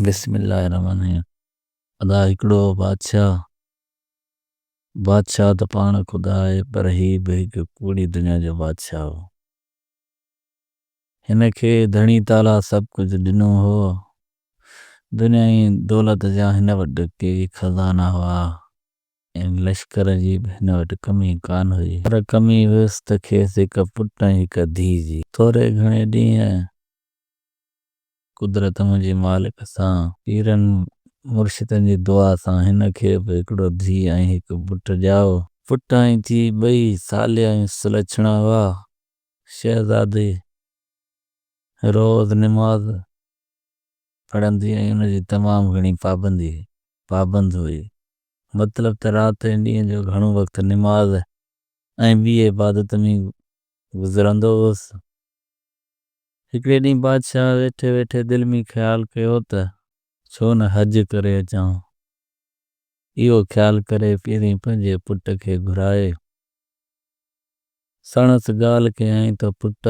بسم الله الرحمن الرحيم ادا هڪڙو بادشاهه بادشاهه ته پاڻ خدا آهي پر هي به هڪ ڪوڙي دنيا جو بادشاهه هو هن کي ڌڻي تعاليٰ سڀ ڪجهه ڏنو هو دنيا جي دولت جا هن وٽ ڪي خزانا هئا ۽ لشڪر جي به هن وٽ ڪمي ڪانه هئي پر ڪمي هيس ته کيس هڪ پٽ ۽ هڪ ڌيء جي ٿوري گهڻي ڏينهن قدرت منهنجي مالڪ سان. پيرن مرشدن جي دعا سان هن کي به هڪڙو ڌيء ۽ هڪ پٽ ڄائو. پٽ ۽ ڌيء ٻئي صالح ۽ سلڇڻا هئا. شهزادي روز نماز پڙهندي ۽ ان جي تمام گهڻي پابندي، پابند، هئي. مطلب ته رات ۽ ڏينهن جو گهڻو وقت نماز ۽ ٻي عبادت ۾ گذرندو هوس. هڪڙي ڏينهن بادشاهه ويٺي ويٺي دل ۾ خيال ڪيو ته ڇو نه حج ڪري اچان. اهو خيال ڪري پهرين پنهنجي پٽ کي گهرائي سڻس ڳالهه ڪيائين ته پٽ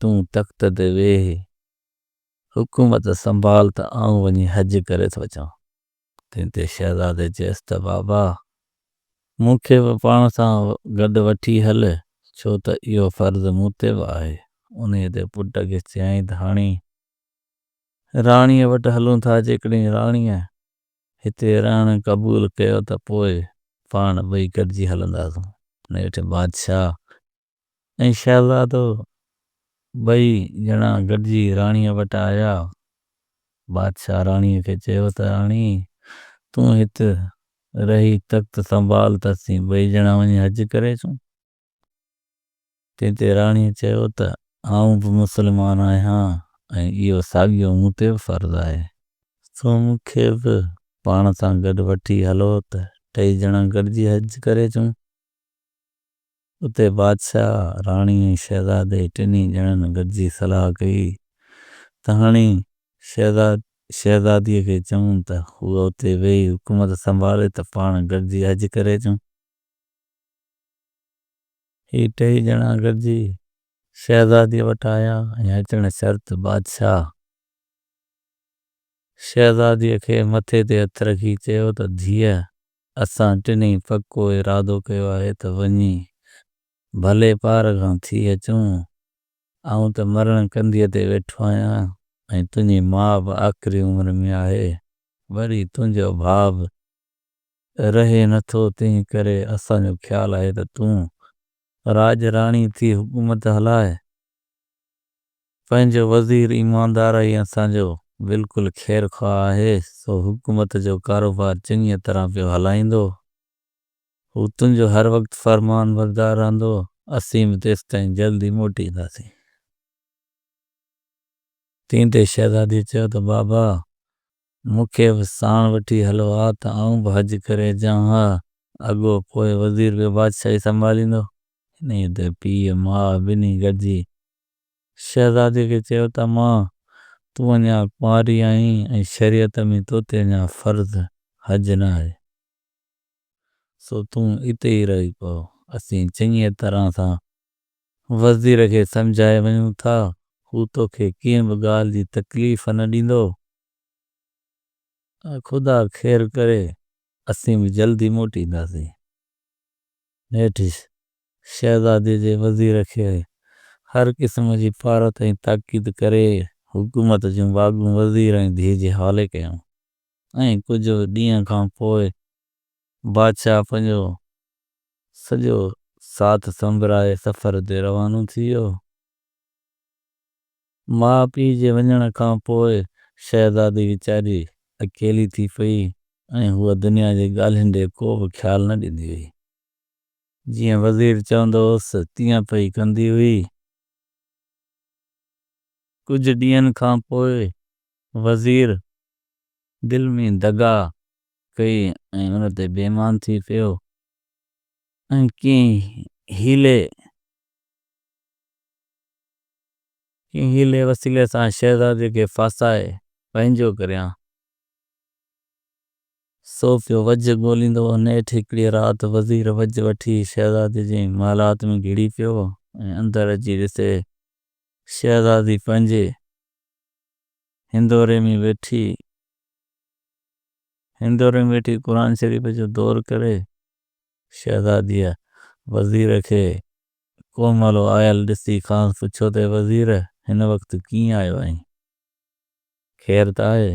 تون تخت تي ويهه، حڪومت سنڀال ته آئون وڃي حج ڪري ٿو اچان. تنهن تي شهزادي چيس ته بابا! مون کي به پاڻ سان گڏ وٺي هل، ڇو ته اهو فرض مون تي به آهي. انهيء تي پٽ کي چيائين ته هاڻي راڻيء وٽ هلون ٿا، جيڪڏهن راڻيء هتي رهڻ قبول ڪيو ته پوء پاڻ ٻئي گڏجي هلنداسون. نيٺ بادشاهه ۽ شهزادو ٻئي ڄڻا گڏجي راڻيء وٽ آيا. بادشاهه راڻيء کي چيو ته راڻي! تون هت رهي تخت سنڀال ته اسين ٻئي ڄڻا وڃي حج ڪري اچون. تنهن تي راڻيء چيو ته آئون به مسلمان آهيان ۽ اهو ساڳيو مون تي به فرض آهي. سو مون کي به پاڻ سان گڏ وٺي هلو ته ٽئي ڄڻا گڏجي حج ڪري اچون. اتي بادشاهه، راڻي ۽ شهزادي ٽنهي ڄڻن گڏجي صلاح ڪئي ته هاڻي شهزاد شهزاديء کي چئون ته هوء اتي ويهي حڪومت سنڀالي ته پاڻ گڏجي حج ڪري اچون. هي ٽيئي ڄڻا گڏجي شهزاديء وٽ آيا ۽ اچڻ شرط بادشاهه شهزاديء کي مٿي تي هٿ رکي چيو ته ڌيء اسان ٽنهي پڪو ارادو ڪيو آهي ته وڃي ڀلي پار کان ٿي اچون. آئون ته مرڻ ڪنڌيء تي ويٺو آهيان ۽ تنهنجي ماء به آخري عمر ۾ آهي. وري تنهنجو ڀاء به رهي نه ٿو، تنهن ڪري اسان جو خيال آهي ته تون راڄ راڻي ٿي حڪومت هلاء. پنهنجو وزير ايماندار ۽ اسان جو بلڪل خير خواهه آهي، سو حڪومت جو ڪاروبار چڱيء طرح پيو هلائيندو. هو تنهنجو هر وقت فرمان بردار رهندو. اسين به تيستائين جلد ئي موٽي اينداسين. تنهن تي شهزاديء چيو ته بابا! مون کي به ساڻ وٺي هلو ها ته آئون به حج ڪري اچان ها. اڳو پوء وزير به بادشاهي سنڀاليندو. انهيء تي پيء ماء ٻنهي گڏجي شهزادي کي چيو ته ماء، تون اڃا ڪنواري آهين ۽ شريعت ۾ تو تي اڃا فرض حج نه آهي، سو تون اتي ئي رهي پء. اسين چڱيء طرح سان وزير کي سمجهائي وڃون ٿا، هو تو کي ڪنهن به ڳالهه جي تڪليف نه ڏيندو. خدا خير ڪري، اسين به جلدي موٽينداسين. نيٺ شهزادي جي وزير کي هر قسم جي پارت ۽ تاڪيد ڪري حڪومت جون باغون وزير ۽ ڌيء جي حوالي ڪيائون ۽ ڪجهه ڏينهن کان پوء بادشاهه پنهنجو سڄو ساٿ سنبرائي سفر تي روانو ٿي ويو. ماء پيء جي وڃڻ کان پوء شهزادي ويچاري اڪيلي ٿي پئي ۽ هوء دنيا جي ڳالهين ڏي ڪو به خيال نه ڏيندي هئي. جيئن وزير چوندو هوس، تيئن پئي ڪندي هئي. ڪجهه ڏينهن کان پوء وزير دل ۾ دغا ڪئي ۽ ان تي بيمان ٿي پيو ۽ ڪنهن حيلي وسيلي سان شهزادي کي ڦاسائي پنهنجو ڪريان سو پيو وجهه ڳوليندو هو. نيٺ هڪڙيء رات وزير وجهه وٺي شهزادي جي محلات ۾ گهڙي پيو ۽ اندر اچي ڏسي شهزادي پنهنجي هندوري ۾ ويٺي هندوري ۾ ويٺي قرآن شريف جو دور ڪري. شهزاديء وزير کي ڪوهمالو آيل ڏسي کانئس پڇيو ته اي وزير! هن وقت ڪيئن آيو آهين؟ خير ته آهي؟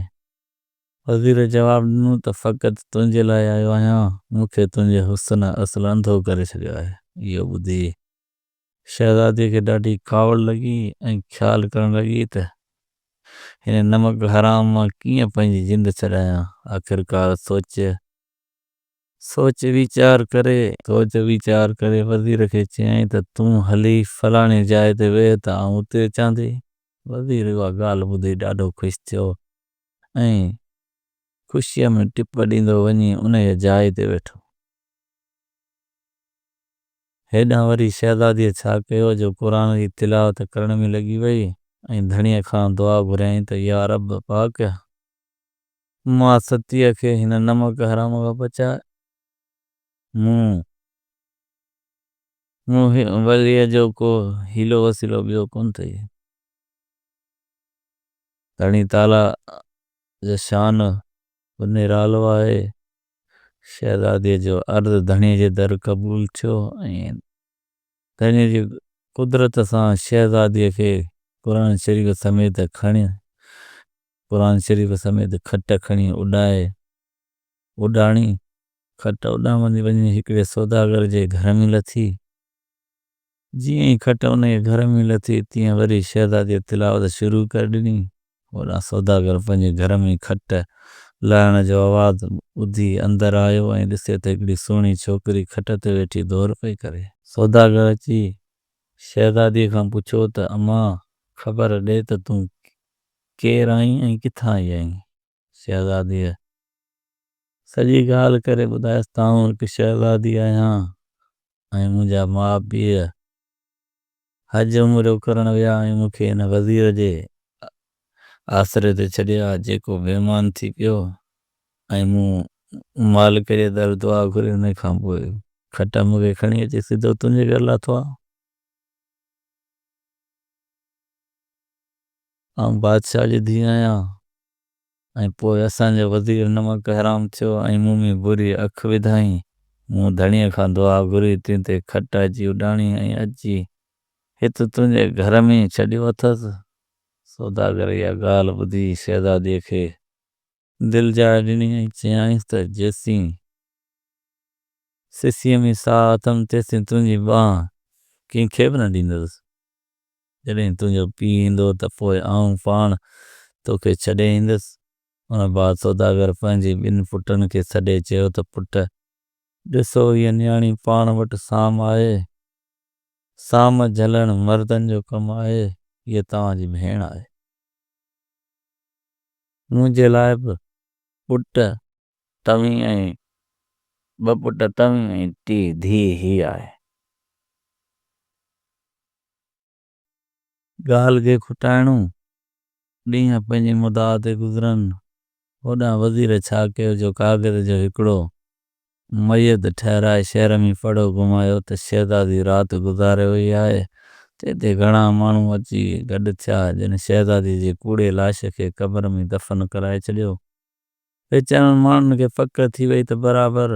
وزير جواب ڏنو ته فقط تنهنجي لاء آيو آهيان، مون کي تنهنجي حسن اصل انڌو ڪري ڇڏيو آهي. اهو ٻڌي شهزاديء کي ڏاڍي ڪاوڙ لڳي ۽ خيال ڪرڻ لڳي ته هن نمڪ حرام مان ڪيئن پنهنجي جند ڇڏايان. آخرڪار سوچ سوچ ويچار ڪري. سوچ ويچار ڪري وزير کي چيائين ته تون هلي فلاڻي جاء تي ويهه ته آئون اتي اچان ٿي. وزير اها ڳالهه ٻڌي ڏاڍو خوش ٿيو ۽ خوشيء ۾ ٽپ ڏيندو وڃي انهيء جاء تي ويٺو. هيڏانهن وري شهزاديء ڇا ڪيو جو قرآن جي تلاوت ڪرڻ ۾ لڳي ويئي ۽ ڌڻيء کان دعا گهريائين ته يا رب پاڪ! مان ستيء کي هن نمڪ حرام کان بچاء. مون وليء جو ڪو حيلو وسيلو ٻيو ڪونه ٿئي. ڌڻي تعاليٰ جي شان به نرالو آهي. شهزاديء جو عرض ڌڻيء جي در قبول ٿيو ۽ ڌڻيء جي قدرت سان شهزاديء کي قرآن شريف سميت کڻي قرآن شريف سميت کٽ کڻي اڏائي اڏاڻي کٽ اڏامندي وڃي هڪڙي سوداگر جي گهر ۾ لٿي. جيئن ئي کٽ ان جي گهر ۾ لٿي تيئن وري شهزاديء تلاوت شروع ڪري ڏني. هوڏانهن سوداگر پنهنجي گهر ۾ کٽ لاهڻ جو آواز ٻڌي اندر آيو ۽ ڏسي ته هڪڙي سهڻي ڇوڪري کٽ تي ويٺي دور پئي ڪري. سوداگر اچي شهزاديء کان پڇيو ته امان! خبر ڏي ته تون ڪير آهين ۽ ڪٿان آئي آهين؟ شهزاديء سڄي ڳالهه ڪري ٻڌايس ته آئون هڪ شهزادي آهيان ۽ منهنجا ماء پيء حج عمرو ڪرڻ ويا ۽ مون کي هن وزير جي آسري تي ڇڏيا جيڪو بيمان ٿي پيو ۽ مون مالڪ جي در دعا گهري ان کان پوء کٽا مون کي کڻي اچي سڌو تنهنجي گهر لاٿو آهيان. آئون بادشاهه جي ڌيء آهيان ۽ پوء اسان جو وزير نمڪ حرام ٿيو ۽ مون ۾ بري اک وڌائين. مون ڌڻيء کان دعا گهري، تنهن تي کٽ اچي اڏاڻي ۽ اچي هت تنهنجي گهر ۾ ڇڏيو اٿس. سوداگر اها ڳالهه ٻڌي شهزاديء کي دل جاء ڏني ۽ چيائينس ته جيسين سسيء ۾ ساهه اٿم تيسين تنهنجي ٻانهه ڪنهن کي به نه ڏيندس. جڏهن تنهنجو پيء ايندو ته پوء آئون پاڻ توکي ڇڏي ايندس. ان بعد سوداگر پنهنجي ٻن پٽن کي سڏي چيو ته پٽ! ڏسو هيء نياڻي پاڻ وٽ سام آهي. سام جهلڻ مردن جو ڪم آهي. هيء توهان جي ڀيڻ آهي. منهنجي لاء به پٽ توهين ۽ ٻه پٽ توهين ۽ ٽي ڌيء هي آهي. ڳالهه کي کٽائڻو. ڏينهن پنهنجي مدعا تي گذرن. هوڏانهن وزير ڇا ڪيو جو ڪاغذ جو هڪڙو ميت ٺهرائي شهر ۾ پڙو گهمايو ته شهزادي رات گذاري وئي آهي ته اتي گهڻا ماڻهو اچي گڏ ٿيا جن شهزادي جي ڪوڙي لاش کي قبر ۾ دفن ڪرائي ڇڏيو. ويچارن ماڻهن کي پڪ ٿي وئي ته برابر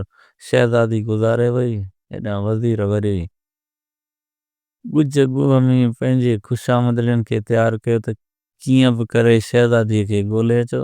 شهزادي گذاري وئي. هيڏانهن وزير وري ڳجهه ڳوهه ۾ پنهنجي خوشامدلين کي تيار ڪيو ته ڪيئن به ڪري شهزادي کي ڳولي اچو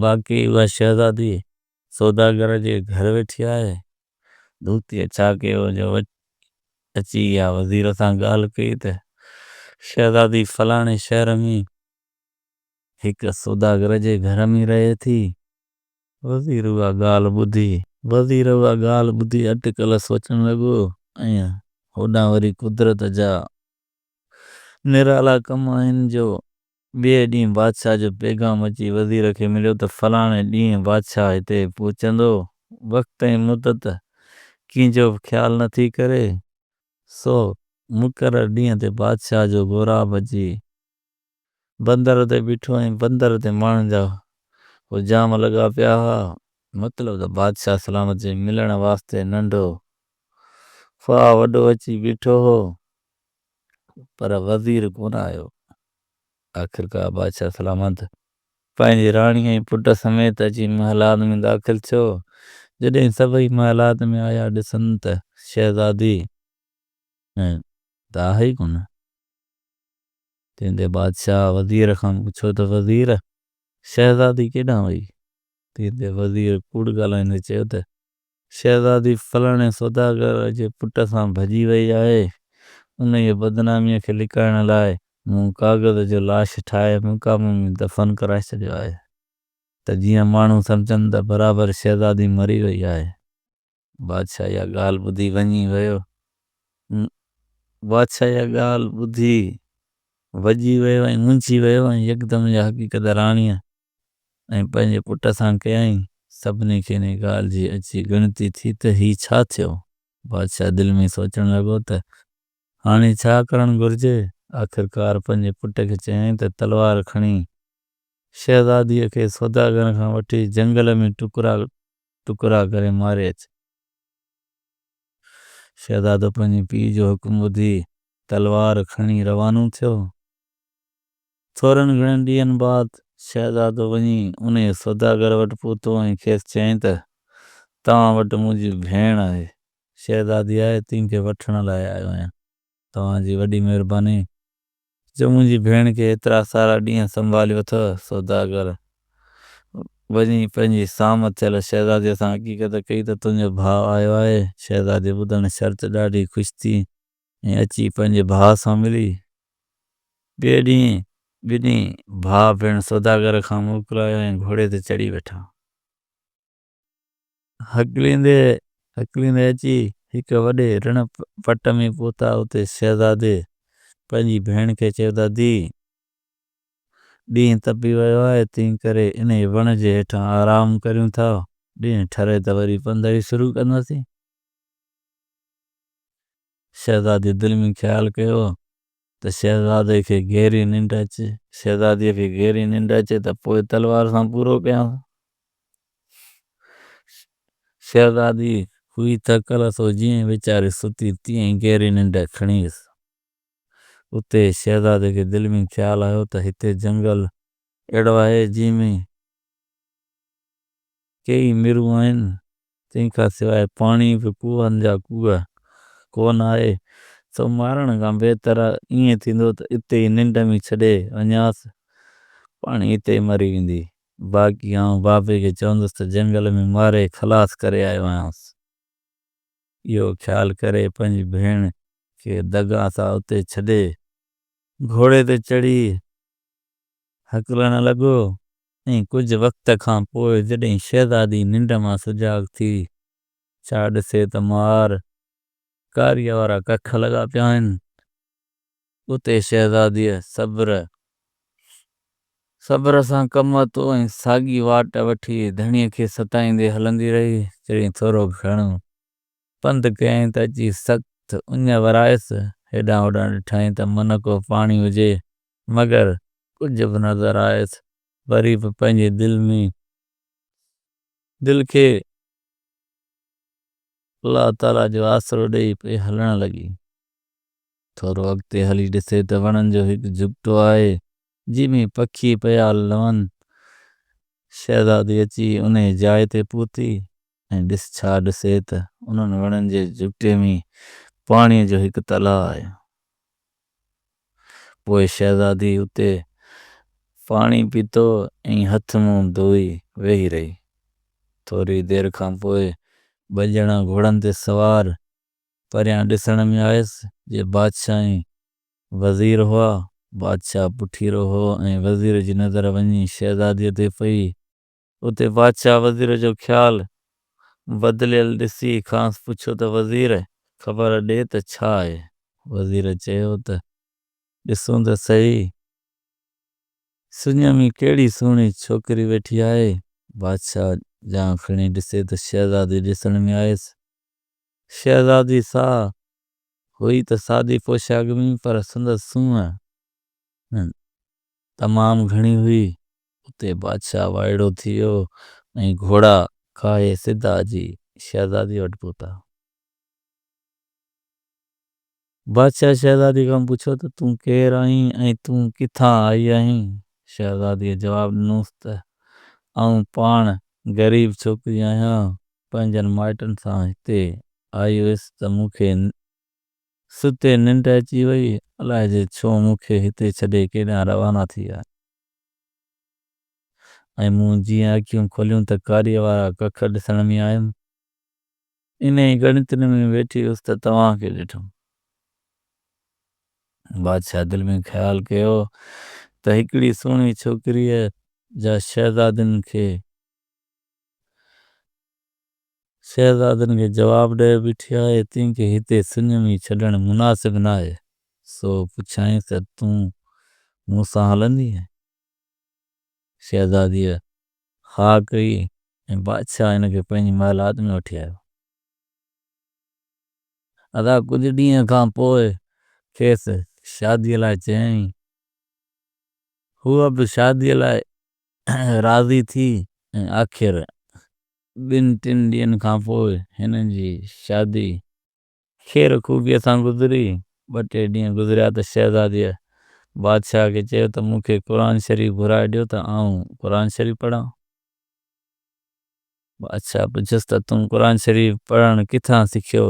باقي اها شهزادي سوداگر جي گهر ويٺي آهي. دوتيء ڇا ڪيو جو اچي اها وزير سان ڳالهه ڪئي ته شهزادي فلاڻي شهر ۾ هڪ سوداگر جي گهر ۾ رهي ٿي. وزير اها ڳالهه ٻڌي. وزير اها ڳالهه ٻڌي اٽڪل سوچڻ لڳو ۽ هوڏانهن وري قدرت جا نرالا ڪم آهن جو ٻئي ڏينهن بادشاهه جو پيغام اچي وزير کي مليو ته فلاڻي ڏينهن بادشاهه هتي پهچندو. وقت ۽ مدت ڪنهن جو به خيال نه ٿي ڪري، سو مقرر ڏينهن تي بادشاهه جو غوراب اچي بندر تي بيٺو ۽ بندر تي ماڻهن جا حجام لڳا پيا هئا. مطلب ته بادشاهه سلامت جي ملڻ واسطي ننڍو خواه وڏو اچي بيٺو هو. پر وزير ڪونه آيو. آخرڪار بادشاهه سلامت پنهنجي راڻي ۽ پٽ سميت اچي محلات ۾ داخل ٿيو. جڏهن سڀئي محلات ۾ آيا ڏسن ته شهزادي ۽ ته آهي ئي ڪونه. تنهن تي بادشاهه وزير کان پڇيو ته وزير شهزادي ڪيڏانهن وئي؟ تنهن تي وزير ڪوڙ ڳالهائيندي چيو ته شهزادي فلاڻي سوداگر جي پٽ سان ڀڄي وئي آهي، انهيء بدناميء کي لڪائڻ لاء مون ڪاغذ جو لاش ٺاهي مقابو ۾ دفن ڪرائي ڇڏيو آهي ته جيئن ماڻهو سمجهن ته برابر شهزادي مري وئي آهي. بادشاهه اها ڳالهه ٻڌي وڃي ويو ۽. بادشاهه اها ڳالهه ٻڌي وڄي ويو ۽ منجهي ويو ۽ يڪدم اها حقيقت راڻيء ۽ پنهنجي پٽ سان ڪيائين. سڀني کي ان ڳالهه جي اچي ڳڻتي ٿي ته هي ڇا ٿيو؟ بادشاهه دل ۾ سوچڻ لڳو ته هاڻي ڇا ڪرڻ گهرجي؟ آخرڪار پنهنجي پٽ کي چيائين ته تلوار کڻي شهزاديء کي سوداگرن کان وٺي جهنگل ۾ ٽڪرا ٽڪرا ڪري ماري اچ. شهزادو پنهنجي پيء جو حڪم ٻڌي تلوار کڻي روانو ٿيو. ٿورن گهڻن ڏينهن بعد شهزادو وڃي انهيء سوداگر وٽ پهتو ۽ کيس چيائين ته، توهان وٽ منهنجي ڀيڻ آهي، شهزادي آهي، تنهن کي وٺڻ لاء آيو آهيان. توهان جي وڏي مهرباني، جو منهنجي ڀيڻ کي ايترا سارا ڏينهن سنڀاليو اٿئو. سوداگر وڃي پنهنجي سام ٿيل شهزاديء سان حقيقت ڪئي ته، تنهنجو ڀاء آيو آهي. شهزاديء ٻڌڻ شرط ڏاڍي خوش ٿي ۽ اچي پنهنجي ڀاء سان ملي. ٻئي ڏينهن ٻنهي ڀاء ڀيڻ سوداگر کان موڪلايا ۽ گهوڙي تي چڙهي ويٺا. هڪليندي هڪليندي اچي هڪ وڏي رڻ پٽ ۾ پهتا. اتي شهزادي پنهنجي ڀيڻ کي چيو ته ڌيء! ڏينهن تپي ويو آهي، تنهن ڪري انهيء وڻ جي هيٺان آرام ڪريون ٿا. ڏينهن ٺري ته وري پنڌ هلي شروع ڪنداسين. شهزادي دل ۾ خيال ڪيو ته شهزادي کي گهري ننڊ اچي. شهزاديء کي گهري ننڊ اچي ته پوء تلوار سان پورو ڪيان. شهزادي هئي ٿڪل سو جيئن ويچاري ستي تيئن ئي گهري ننڊ کڻي ويس. اتي شهزادي کي دل ۾ خيال آيو ته هتي جهنگل اهڙو آهي جنهن ۾ ڪيئي مرون آهن تنهن کان سواء پاڻي به ڪوهن جا ڪوهه ڪو نه آهي، سو مارڻ کان بهتر ائين ٿيندو ته اتي ئي ننڊ ۾ ڇڏي وڃانس، پاڻي اتي ئي مري ويندي. باقي آئون بابي کي چوندس ته جهنگل ۾ ماري خلاص ڪري آيو آهيانس. اهو خيال ڪري پنهنجي ڀيڻ کي دڳا سان اتي ڇڏي، گهوڙي تي چڙهي هڪلڻ لڳو ۽ ڪجهه وقت کان پوء جڏهن شهزادي ننڊ مان سجاڳ ٿي ڇا ڏسي ته مار ڪاريء وارا ڪک لڳا پيا آهن. اتي شهزاديء صبر صبر سان ڪم ورتو ۽ ساڳي واٽ وٺي ڌڻيء کي ستائيندي هلندي رهي. جڏهن ٿورو گهڻو پنڌ ڪيائين ته اچي سخت اڃ ورايس. هيڏانهن هوڏانهن ڏٺائين ته منهڪو پاڻي هجي مگر ڪجهه به نظر آيس وري به پنهنجي دل ۾ دل کي الله تعالي جو آسرو ڏئي پئي هلڻ لڳي ٿورو اڳتي هلي ڏسي ته وڻن جو هڪ جهڳٽو آهي جنهن ۾ پکي پيا لون شهزادي اچي انهي جاء تي پهتي ۽ ڏس ڇا ڏسي ته انهن وڻن جي جهٽي ۾ پاڻيء جو هڪ تلاء آهي. پوء شهزادي اتي پاڻي پيتو ۽ هٿ منهن ڌوئي ويهي رهي. ٿوري دير کان پوء ٻه ڄڻا گهوڙن تي سوار پريان ڏسڻ ۾ آيس، جي بادشاهه ۽ وزير هئا. بادشاهه پٺيرو هو ۽ وزير جي نظر وڃي شهزاديء تي پئي. اتي بادشاهه وزير جو خيال بدليل ڏسي کانئس پڇيو ته وزير! خبر ڏي ته ڇا آهي؟ وزير چيو ته ڏسون ته سهي، سڃ ۾ ڪهڙي سهڻي ڇوڪري ويٺي آهي. بادشاهه جان کڻي ڏسي ته شهزادي ڏسڻ ۾ آيس. شهزادي سا هئي ته سادي پوشاڪ ۾ پر سندس سونهن تمام گهڻي هئي. اتي بادشاهه وائڙو ٿي ويو ۽ گهوڙا کاهي سڌا اچي شهزاديء وٽ پهتا. بادشاهه شهزاديء کان پڇيو ته تون ڪير آهين ۽ تون ڪٿان آئي آهين؟ شهزاديء جواب ڏنوس ته آئون پاڻ غريب ڇوڪري آهيان، پنهنجن مائٽن سان هتي آئي هيس ته مون کي ستي ننڊ اچي وئي، الائجي ڇو مون کي هتي ڇڏي ڪيڏانهن روانا ٿي آهي. ۽ مون جيئن اکيون کوليون ته ڪاريء وارا ڪک ڏسڻ ۾ آيم. انهيء ڳڻتين ۾ ويٺي هيس ته توهان کي ڏٺم. بادشاهه دل ۾ خيال ڪيو ته هڪڙي سهڻي ڇوڪريء جا شهزادن کي شهزادن کي جواب ڏئي بيٺي آهي، تنهن کي هتي سڃمي ڇڏڻ مناسب ناهي. سو پڇيائينس ته تون مون سان هلندينء؟ شهزاديء ها ڪئي ۽ بادشاهه هن کي پنهنجي محلات ۾ وٺي آيو. ادا ڪجهه ڏينهن کان پوء کيس شاديء لاء چيائين. هوء به شاديء لاء راضي ٿي ۽ آخر ٻن ٽن ڏينهن کان پوء هن جي شادي خير خوبيء سان گذري. ٻه ٽي ڏينهن گذريا ته شهزاديء بادشاهه کي چيو ته مون کي قرآن شريف گهرائي ڏيو ته آئون قرآن شريف پڙهان. بادشاهه پڇيس ته تون قرآن شريف پڙهڻ ڪٿان سکيو؟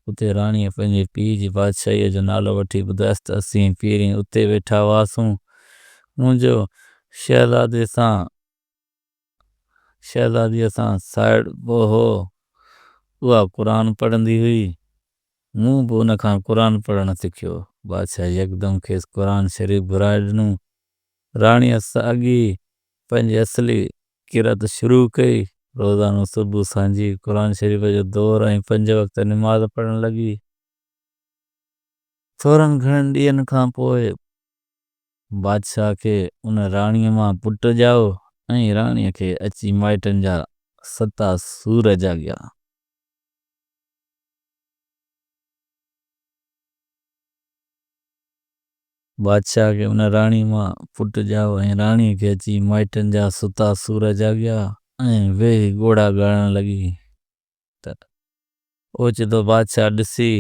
اتي راڻيء پنهنجي پيء جي بادشاهيء جو نالو وٺي ٻڌايس ته اسين پيرين اتي ويٺا هئاسون، منهنجو شهزادي سان شهزاديء سان سائيڙ به هو. اها قرآن پڙهندي هئي. مون به ان کان قرآن پڙهڻ سکيو. بادشاهه يڪدم کيس قرآن شريف گهرائي ڏنو. راڻيء ساڳي پنهنجي اصلي قرائت شروع ڪئي. روزانو صبح سانجهي قرآن شريف جو دور ۽ پنج وقت نماز پڙهڻ لڳي. ٿورن گهڻن ڏينهن کان پوء بادشاهه کي ان راڻيء مان پٽ ڄائو ۽ راڻيء کي اچي مائٽن جا ستا سور جاڳيا. بادشاهه کي ان راڻيء مان پٽ ڄائو ۽ راڻيء کي اچي مائٽن جا ستا سور جاڳيا ۽ ويهي ڳوڙها ڳائڻ لڳي. ته اوچتو بادشاهه ڏسي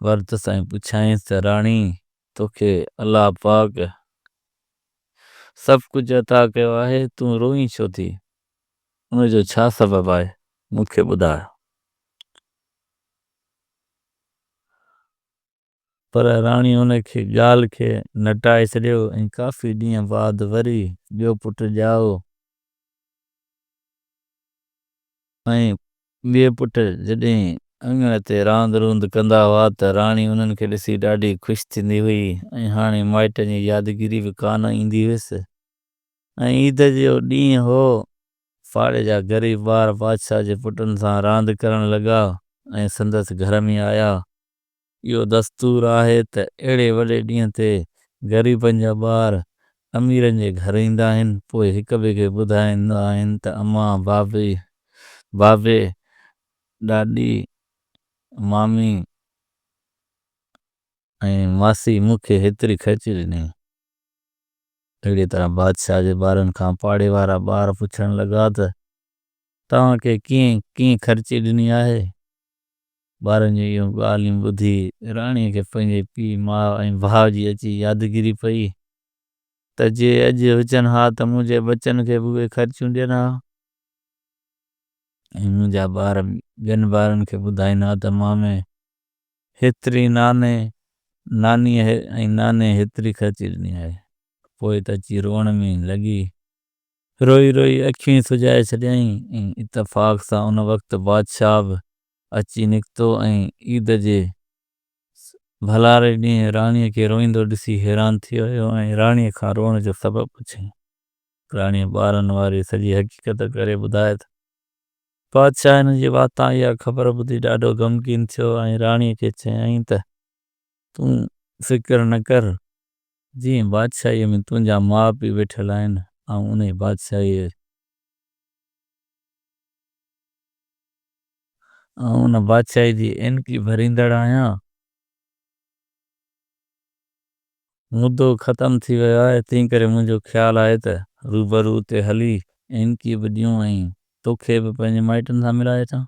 ورتس ۽ پڇيائينس ته راڻي! توکي الله پاڪ سڀ ڪجهه عطا ڪيو آهي، تون روئين ڇو ٿي؟ ان جو ڇا سبب آهي؟ مون کي ٻڌاء. پر راڻي ان کي ڳالهه کي نٽائي ڇڏيو ۽ ڪافي ڏينهن بعد وري ٻيو پٽ ڄائو ۽ ٻئي پٽ جڏهن اڱڻ تي راند روند ڪندا هئا ته راڻي انهن کي ڏسي ڏاڍي خوش ٿيندي هئي ۽ هاڻي مائٽن جي يادگيري به ڪانه ايندي هيس ۽ عيد جو ڏينهن هو پاڙي جا غريب ٻار بادشاهه جي پٽن سان راند ڪرڻ لڳا ۽ سندس گهر ۾ آيا اهو دستور آهي ته اهڙي وڏي ڏينهن تي غريبن جا ٻار اميرن جي گهر ايندا آهن، پوء هڪ ٻئي کي ٻڌائيندا آهن ته امان، بابي، بابي، ڏاڏي، مامي ۽ ماسي مون کي هيتري خرچي ڏني. اهڙيء طرح بادشاهه جي ٻارن کان پاڙي وارا ٻار پڇڻ لڳا ته توهان کي ڪنهن، ڪنهن خرچي ڏني آهي؟ ٻارن جون اهيون ڳالهيون ٻڌي راڻيء کي پنهنجي پيء، ماء ۽ ڀاء جي اچي يادگيري پئي ته جي اڄ هجن ها ته منهنجي ٻچن کي به اهي خرچيون ڏين ها ۽ منهنجا ٻار ٻين ٻارن کي ٻڌائين ها ته مامي هيتري ناني، نانيء ۽ ناني هيتري خرچي ڏني آهي. پوء ته اچي روئڻ ۾ ئي لڳي. روئي روئي اکيون ئي سجائي ڇڏيائين ۽ اتفاق سان ان وقت بادشاهه به اچي نڪتو ۽ عيد جي ڀلاري ڏينهن راڻيء کي روئيندو ڏسي حيران ٿي ويو ۽ راڻيء کان روئڻ جو سبب پڇيائين. راڻيء ٻارن واري سڄي حقيقت ڪري ٻڌائي ته، بادشاهه هن جي واتان اها خبر ٻڌي ڏاڍو غمگين ٿيو ۽ راڻيء کي چيائين ته، تون فڪر نه ڪر، جيئن بادشاهيء ۾ تنهنجا ماء پيء ويٺل آهن، آئون انهيء بادشاهيء. آئون ان بادشاهي جي اينڪي ڀريندڙ آهيان. مدو ختم ٿي ويو آهي، تنهنڪري منهنجو خيال آهي ته روبرو اتي هلي اينڪي به ڏيون ۽ توکي به پنهنجي مائٽن سان ملائي اچان.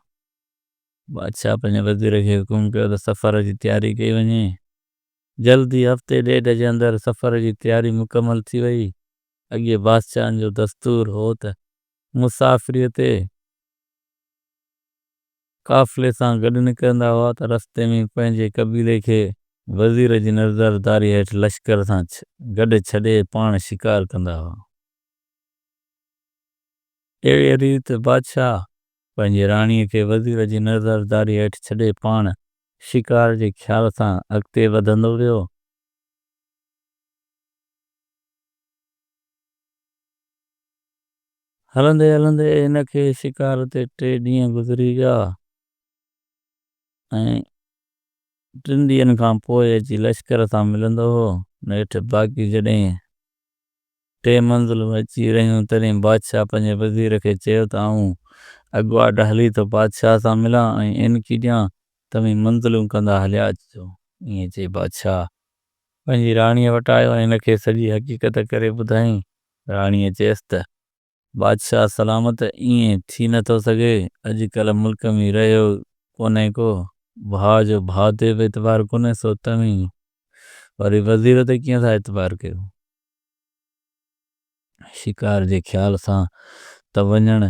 بادشاهه پنهنجي وزير کي حڪم ڪيو ته سفر جي تياري ڪئي وڃي. جلد ئي هفتي ڏيڍ جي اندر سفر جي تياري مڪمل ٿي ويئي. اڳي بادشاهن جو دستور هو ته مسافريء تي قافلي سان گڏ نڪرندا هئا ته رستي ۾ پنهنجي قبيلي کي وزير جي نظرداري هيٺ لشڪر سان گڏ ڇڏي پاڻ شڪار ڪندا هئا. اهڙيء ريت بادشاهه پنهنجي راڻيء کي وزير جي نظرداري هيٺ ڇڏي پاڻ شڪار جي خيال سان اڳتي وڌندو ويو. هلندي هلندي هن کي شڪار تي ٽي ڏينهن گذري ويا ۽ ٽن ڏينهن کان پوء اچي لشڪر سان ملندو هو. نيٺ باقي جڏهن ٽي منزلون اچي رهيون تڏهن بادشاهه پنهنجي وزير کي چيو ته آئون اڳواٽ هلي ٿو بادشاهه سان ملان ۽ اينڪي ڏيان، توهين منزلون ڪندا هليا اچجو. ائين چئي بادشاهه پنهنجي راڻيء وٽ آيو ۽ هن کي سڄي حقيقت ڪري ٻڌائين راڻيء چيس ته، بادشاهه سلامت ائين ٿي نه ٿو سگهي، اڄ ڪلهه ملڪ ۾ رهيو ڪونهي ڪو، ڀاء جو ڀاء تي به اعتبار ڪونهي، سو توهين وري وزير تي ڪيئن ٿا اعتبار ڪيو؟ شڪار جي خيال سان ته وڃڻ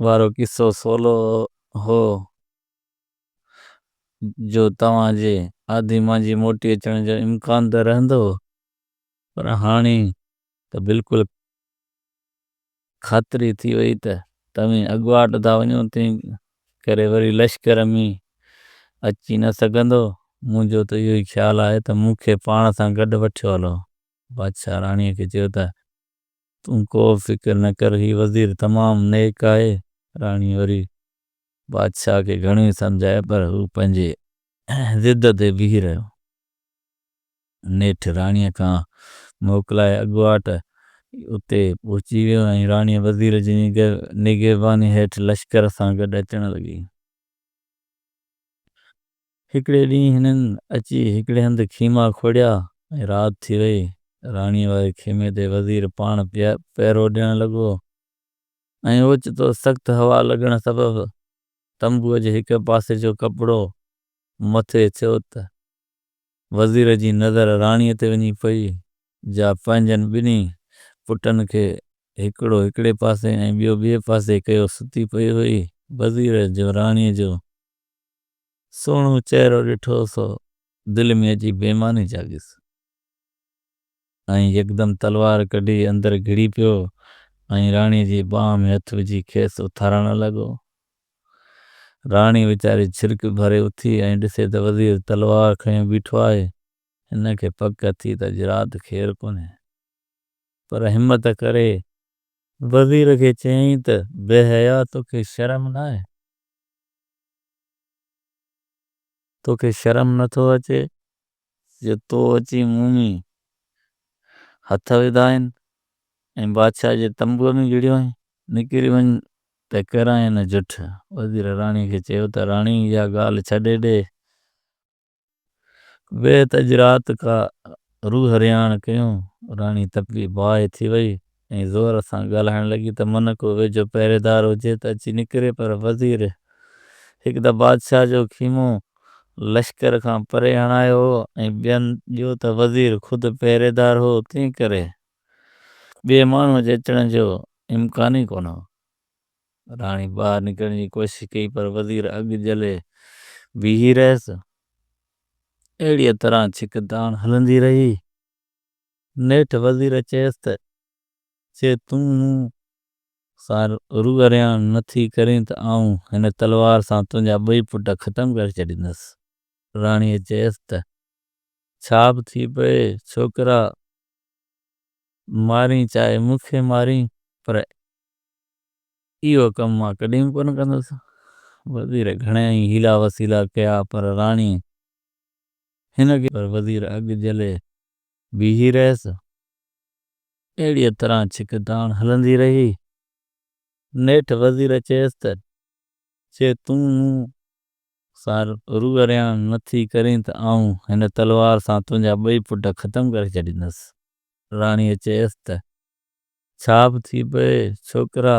وارو قصو سولو هو، جو توهان جي آڌي مانجهي موٽي اچڻ جو امڪان ته رهندو، پر هاڻي ته بلڪل خاطري ٿي وئي ته توهين اڳواٽ ٿا وڃو، تنهن ڪري وري لشڪر ۾ اچي نه سگهندو. منهنجو ته اهو ئي خيال آهي ته مون کي پاڻ سان گڏ وٺيو هلو. بادشاهه راڻيء کي چيو ته، تون ڪو به فڪر نه ڪر، هي وزير تمام نيڪ آهي. راڻيء وري بادشاهه کي گهڻو ئي سمجهايو، پر هو پنهنجي ضد تي بيهي رهيو. نيٺ راڻيء کان موڪلائي اڳواٽ اتي پهچي ويو ۽ راڻيء وزير جي نگهباني هيٺ لشڪر سان گڏ اچڻ لڳي. هڪڙي ڏينهن هنن اچي هڪڙي هنڌ خيما کوڙيا ۽ رات ٿي وئي. راڻيء واري خيمي تي وزير پاڻ پهرو ڏيڻ لڳو ۽ اوچتو سخت هوا لڳڻ سبب تنبوء جي هڪ پاسي جو ڪپڙو مٿي ٿيو ته وزير جي نظر راڻيء تي وڃي پئي، جا پنهنجن ٻنهي پٽن کي هڪڙو هڪڙي پاسي ۽ ٻيو ٻئي پاسي ڪيو ستي پئي هئي. وزير جو راڻيء جو سهڻو چهرو ڏٺو سو دل ۾ عجيب بيماني جاڳيس. ۽ يڪدم تلوار ڪڍي اندر گهڙي پيو ۽ راڻي جي ٻانهن ۾ هٿ وجهي کيس اٿارڻ لڳو. راڻي ويچاري ڇرڪ ڀري اٿي ۽ ڏسي ته وزير تلوار کنيو بيٺو آهي. هن کي پڪ ٿي ته اڄ رات خير ڪونهي. پر همت ڪري وزير کي چيائين ته بي حيا توکي شرم ناهي. توکي شرم نه ٿو اچي جو تو اچي مون ۾ هٿ وڌا آهن ۽ بادشاهه جي تنبوء ۾ گهڙيو آهين. نڪري وڃ ته ڪرانء نه جٺ. وزير راڻي کي چيو ته راڻي اها ڳالهه ڇڏي ڏي. بيهت اڄ رات ڪا روح رهاڻ ڪيون. راڻي تپي باهه ٿي وئي ۽ ۽ زور سان ڳالهائڻ لڳي ته من ڪو ويجهو پهريدار هجي ته اچي نڪري پر وزير هڪ ته بادشاهه جو خيمو لشڪر کان پري هڻايو هو ۽ ٻين ٻيو ته وزير خود پهريدار هو تنهن ڪري ٻئي ماڻهو جي اچڻ جو امڪان ئي ڪونه هو. راڻي ٻاهر نڪرڻ جي ڪوشش ڪئي پر وزير اڳ جهلي بيهي رهيس. اهڙيء طرح ڇڪتاڻ هلندي رهي. نيٺ وزير چيس ته جي تون مون سان روئريان نه ٿي ڪرين ته آئون هن تلوار سان تنهنجا ٻئي پٽ ختم ڪري ڇڏيندس. راڻيء چيس ته ڇا به ٿي پئي ڇوڪرا مارين چاهي مون کي مارين پر اهو ڪم مان ڪڏهن به ڪونه ڪندس. وزير گهڻيائي حيلا وسيلا ڪيا پر راڻيء هن کي پر وزير اڳ جهلي بيهي رهيس. اهڙيء طرح ڇڪتاڻ هلندي رهي. نيٺ وزير چيس ته، جي تون مون سان روئرياڻ نه ٿي ڪرين ته آئون هن تلوار سان تنهنجا ٻئي پٽ ختم ڪري ڇڏيندس. راڻيء چيس ته، ڇا به ٿي پئي، ڇوڪرا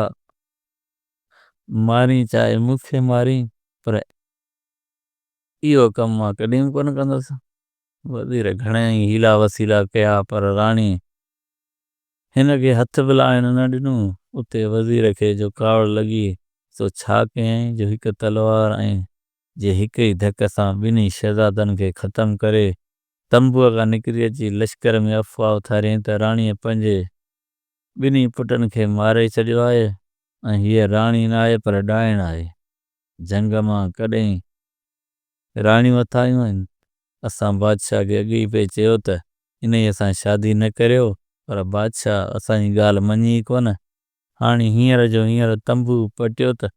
مارين چاهي مون کي مارين، پر اهو ڪم مان ڪڏهن به ڪونه ڪندس. وزير گهڻا ئي حيلا وسيلا ڪيا پر راڻي هن کي هٿ به لاهڻ نه ڏنو. اتي وزير کي جو ڪاوڙ لڳي سو ڇا ڪيائين جو هڪ تلوار ۽ جي هڪ ئي ڌڪ سان ٻنهي شهزادن کي ختم ڪري تنبوء کان نڪري اچي لشڪر ۾ افواهه اٿاريائين ته راڻيء پنهنجي ٻنهي پٽن کي ماري ڇڏيو آهي ۽ هيء راڻي ناهي پر ڏائڻ آهي. جهنگ مان ڪڏهن راڻيون اٿايون آهن. اسان بادشاهه کي اڳ ئي پئي چيو ته انهيء سان شادي نه ڪريو، پر بادشاهه اسان جي ڳالهه مڃي ئي ڪونه. هاڻي هينئر جو هينئر تنبو پٽيو ته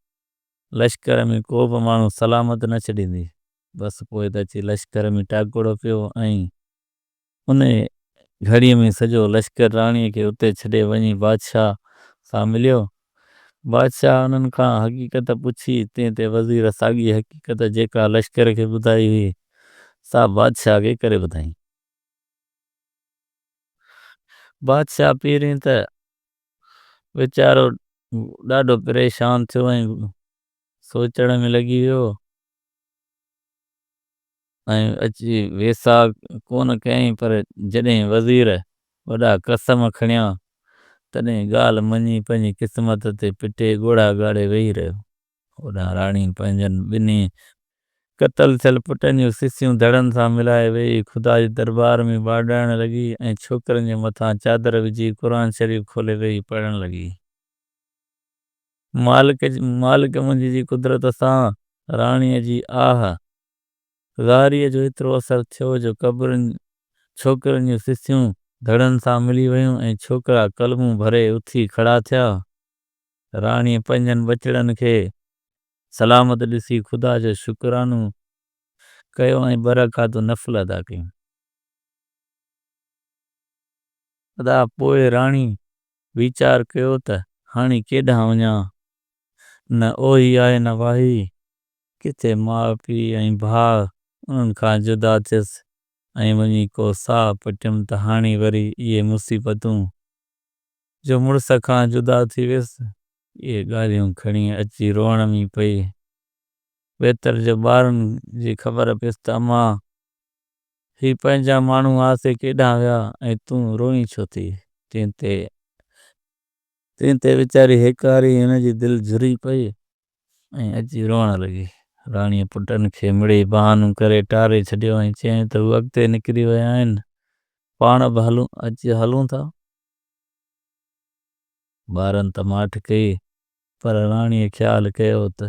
لشڪر ۾ ڪو به ماڻهو سلامت نه ڇڏيندي. بس پوء ته اچي لشڪر ۾ ٽاڪڙو پيو ۽ انهيء گهڙيء ۾ سڄو لشڪر راڻيء کي اتي ڇڏي وڃي بادشاهه سان مليو. بادشاهه انهن کان حقيقت پڇي، تنهن تي وزير ساڳي حقيقت جيڪا لشڪر کي ٻڌائي هئي، سا بادشاهه کي ڪري ٻڌائين. بادشاهه پهرين ته ويچارو ڏاڍو پريشان ٿيو ۽ سوچڻ ۾ لڳي ويو. ۽ اچي ويساهه ڪونه ڪيائين، پر جڏهن وزير وڏا قسم کڻيا، تڏهن ڳالهه مڃي پنهنجي قسمت تي پٽي ڳوڙها ڳاڙي ويهي رهيو. هوڏانهن راڻي پنهنجن ٻنهي قتل ٿيل پٽن جون سسيون ڌڙن سان ملائي ويئي، خدا جي دربار ۾ ٻاڏائڻ لڳي ۽ ڇوڪرن جي مٿان چادر وجهي قرآن شريف کولي ويهي پڙهڻ لڳي. مالڪ مالڪ منهنجي جي قدرت سان راڻيء جي آهه زاريء جو ايترو اثر ٿيو جو قبرن ڇوڪرن جون سسيون ڌڙن سان ملي ويون ۽ ڇوڪرا ڪلمون ڀري اٿي کڙا ٿيا. راڻيء پنهنجن ٻچڙن کي سلامت ڏسي خدا جو شڪرانو ڪيو ۽ ٻه رڪعتون نفل ادا ڪيون. ادا پوء راڻي ويچار ڪيو ته هاڻي ڪيڏانهن وڃان؟ نه اوهي آهي نه واهي. ڪٿي ماء پيء ۽ ڀاء انهن کان جدا ٿيس ۽ وڃي ڪو ساهه پٽيم ته هاڻي وري اهي مصيبتون. جو مڙس کان جدا ٿي ويس. اهي ڳالهيون کڻي اچي روئڻ ۾ پئي ويتر جو ٻارن جي خبر پيس ته امان هي پنهنجا ماڻهو آسي ڪيڏانهن ويا ۽ تون روئين ڇو ٿي؟ تنهن تي تنهن تي ويچاري هڪ واري هن جي دل جھري پئي ۽ اچي روئڻ لڳي. راڻيء پٽن کي مڙئي بهانو ڪري ٽاري ڇڏيو ۽ چيائين ته هو اڳتي نڪري ويا آهن، پاڻ به هلون، اچ هلون ٿا. ٻارن ته ماٺ ڪئي پر راڻيء خيال ڪيو ته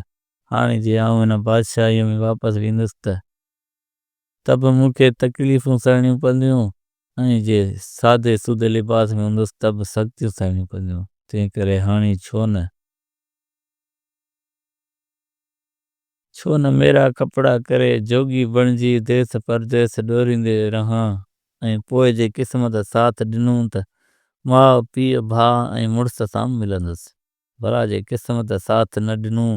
هاڻي جي آئون هن بادشاهيء ۾ واپس ويندس ته ته به مون کي تڪليفون سهڻيون پونديون ۽ جي سادي سودي لباس ۾ هوندس ته به سختيون سهڻيون پونديون. تنهن ڪري هاڻي ڇو نه؟ ڇو نه ميرا ڪپڙا ڪري جوڳي بڻجي ديس پرديس ڏوريندي رهان ۽ پوء جي قسمت ساٿ ڏنون ته ماء، پيء، ڀاء ۽ مڙس سان ملندس. ڀرا جي قسمت ساٿ نه ڏنو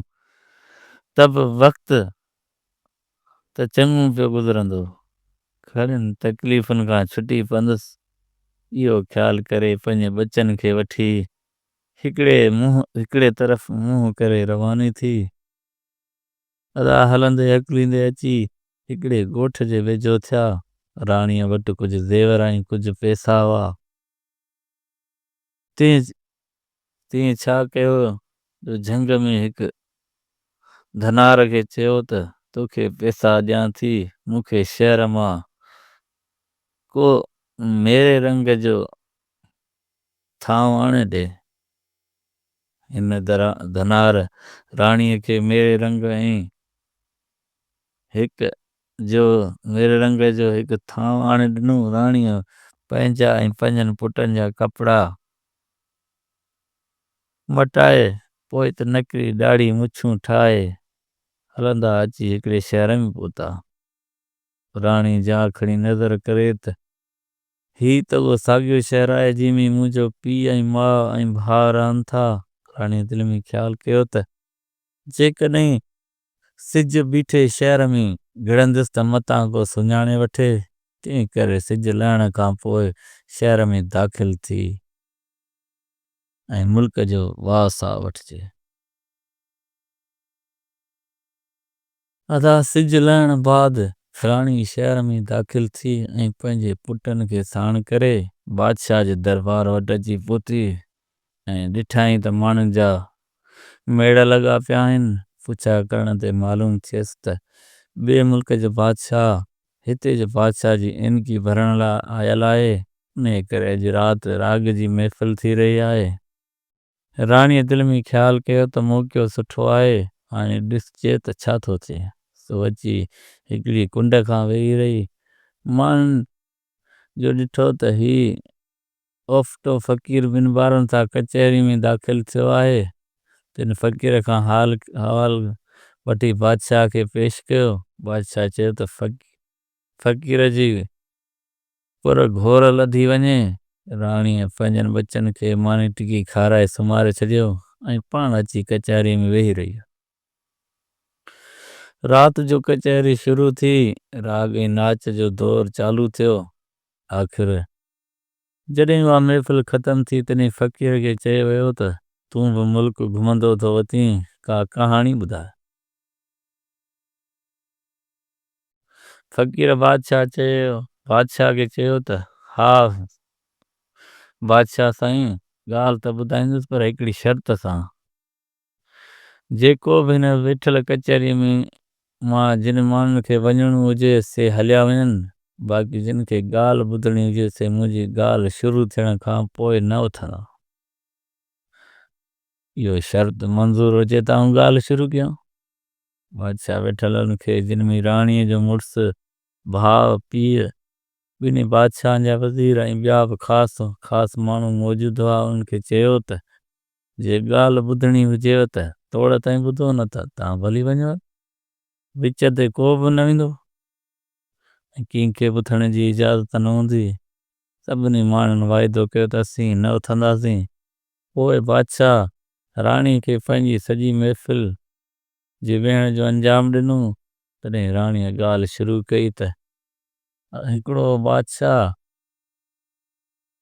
ته به وقت ته چڱو پيو گذرندو. گهڻين تڪليفن کان ڇٽي پوندس، اهو خيال ڪري پنهنجي ٻچن کي وٺي هڪڙي منهن هڪڙي طرف منهن ڪري رواني ٿي. ادا هلندي هڪليندي اچي هڪڙي ڳوٺ جي ويجهو ٿيا. راڻيء وٽ ڪجهه زيور ۽ ڪجهه پئسا هئا. تين تين ڇا ڪيو جو جهنگ ۾ هڪ ڌنار کي چيو ته توکي پيسا ڏيان ٿي مون کي شهر مان ڪو ميري رنگ جو ٿانو آڻي ڏي. هن ڌنار راڻيء کي ميري رنگ ۽ هڪ جو نيري رنگ جو هڪ ٿانو آڻي ڏنو. راڻيء پنهنجا ۽ پنهنجن پٽن جا ڪپڙا مٽائي، پوء ته نڪري ڏاڙهي مڇون ٺاهي، هلندا اچي هڪڙي شهر ۾ پهتا. راڻي جا کڻي نظر ڪري ته، هي ته اهو ساڳيو شهر آهي، جنهن ۾ منهنجو پيء ۽ ماء ۽ ڀاء رهن ٿا. راڻيء دل ۾ خيال ڪيو ته، جيڪڏهن سج بيٺي شهر ۾ گهڙنديس ته متان ڪو سڃاڻي وٺي، تنهن ڪري سج لهڻ کان پوء شهر ۾ داخل ٿي ۽ ملڪ جو واهه ساهه وٺجي. ادا سج لهڻ بعد فلاڻي شهر ۾ داخل ٿي ۽ پنهنجي پٽن کي ساڻ ڪري بادشاهه جي دربار وٽ اچي پهتي ۽ ڏٺائين ته ماڻهن جا ميڙ لڳا پيا آهن. پڇا ڪرڻ تي معلوم ٿيس ته ٻئي ملڪ جو بادشاهه هتي جو بادشاهه جي عينڪي ڀرڻ لاء آيل آهي. انهيء ڪري اڄ رات راڳ جي محفل ٿي رهي آهي. راڻيء دل ۾ خيال ڪيو ته موقعو سٺو آهي، هاڻي ڏسجي ته ڇا ٿو ٿئي. سو اچي هڪڙي ڪنڊ کان ويهي رهي. ماڻهن جو ڏٺو ته هي اوفتو فقير بن بارن سان ڪچهري ۾ داخل ٿيو آهي. تن فقير کان حال احوال وٺي بادشاهه کي پيش ڪيو. بادشاهه چيو ته فقير جي پر گهور لڌي وڃي. راڻيء پنهنجن ٻچن کي ماني ٽڪي کارائي سمهاري ڇڏيو ۽ پاڻ اچي ڪچهري ۾ ويهي رهي. رات جو ڪچهري شروع ٿي. راڳ ۽ ناچ جو دور چالو ٿيو. آخر جڏهن اها محفل ختم ٿي تڏهن فقير کي چيو ويو ته، تون به ملڪ گهمندو ٿو وتين، ڪا ڪهاڻي ٻڌاء. فقير بادشاهه چيو، بادشاهه کي چيو ته، ها بادشاهه سائين، ڳالهه ته ٻڌائيندس پر هڪڙي شرط سان. جيڪو به هن ويٺل ڪچهري ۾ مان جن ماڻهن کي وڃڻو هجي سي هليا وڃن باقي جن کي ڳالهه ٻڌڻي هجي سي منهنجي ڳالهه شروع ٿيڻ کان پوء نه اٿندا. اهو شرط منظور هجي ته آئون ڳالهه شروع ڪيان. بادشاهه ويٺلن کي جن ۾ راڻيء جو مڙس، ڀاء، پيء، ٻنهي بادشاهن جا وزير ۽ ٻيا به خاص خاص ماڻهو موجود هئا انهن کي چيو ته جي ڳالهه ٻڌڻي هجيو ته توڙ تائين ٻڌو نه ته تان ڀلي وڃو. وچ تي ڪو به نه ويندو ۽ ڪنهن کي به اٿڻ جي اجازت نه هوندي. سڀني ماڻهن واعدو ڪيو ته اسين نه اٿنداسين. پوء بادشاهه راڻي کي پنهنجي سڄي محفل جي ويهڻ جو انجام ڏنو. تڏهن راڻيء ڳالهه شروع ڪئي ته. هڪڙو بادشاهه.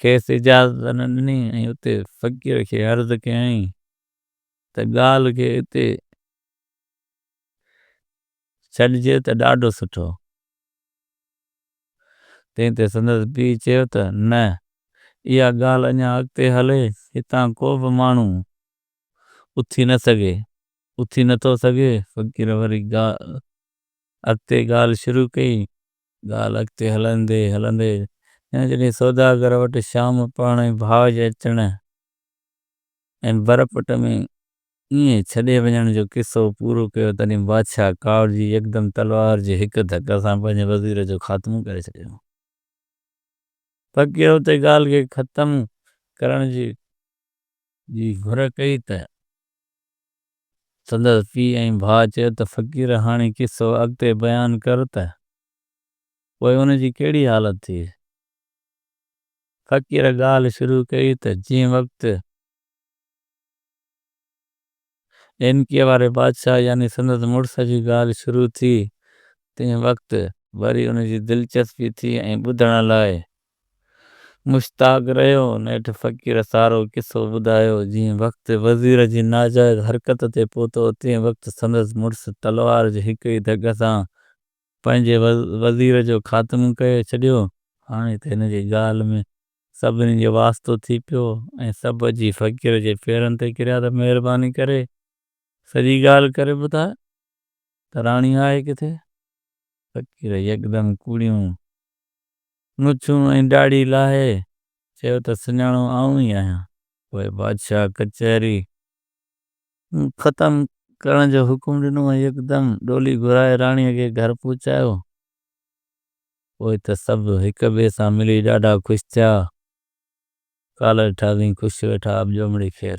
کيس اجازت نه ڏني ۽ اتي فقير کي عرض ڪيائين ته ڳالهه کي اتي ڇڏجي ته ڏاڍو سٺو. تنهن تي سندس پيء چيو ته نه اها ڳالهه اڃا اڳتي هلي هتان ڪو به ماڻهو اٿي نه سگهي. اٿي نه ٿو سگهي. فقير وري اڳتي ڳالهه شروع ڪئي ڳالهه اڳتي هلندي هلندي ڄڻ جڏهن سوداگر وٽ شام پاڻ ۽ ڀاء جي اچڻ ۽ بر پٽ ۾ ائين ڇڏي وڃڻ جو قصو پورو ڪيو تڏهن بادشاهه ڪاوڙجي يڪدم تلوار جي هڪ ڌڪ سان پنهنجي وزير جو خاتمو ڪري ڇڏيو. فقير اتي ڳالهه کي ختم ڪرڻ جي گهر ڪئي ته سندس پيء ۽ ڀاء چيو ته فقير هاڻي قصو اڳتي بيان ڪر ته پوء ان جي ڪهڙي حالت ٿي؟ فقير ڳالهه شروع ڪئي ته جنهن وقت ڏينڪيء واري بادشاهه يعني سندس مڙس جي ڳالهه شروع ٿي تنهن وقت وري ان جي دلچسپي ٿي ۽ ٻڌڻ لاء مشتاق رهيو نيٺ فقير سارو قصو ٻڌايو، جئين وقت وزير جي ناجائز حرڪت تي پهتو تئين وقت سندس مڙس تلوار جي هڪ ئي ڌڪ سان پنهنجي وزير جو خاتمو ڪري ڇڏيو، هاڻي ته هن جي ڳالهه ۾ سڀني جو واسطو ٿي پيو ۽ سڀ اچي فقير جي پيرن تي ڪريا ته مهرباني ڪري سڄي ڳالهه ڪري ٻڌاء ته راڻي آهي ڪٿي؟ فقير يڪدم ڪوڙيون مڇون ۽ ڏاڙهي لاهي، چيو ته سڃاڻو آئون ئي آهيان. پوء بادشاهه ڪچهري ختم ڪرڻ جو حڪم ڏنو ۽ يڪدم ڏولي گهرائي راڻيء کي گهر پهچايو. پوء ته سڀ هڪ ٻئي سان ملي ڏاڍا خوش ٿيا. ڪالهه ٺاهزين خوش ويٺا، اٻڄو مڙي خير.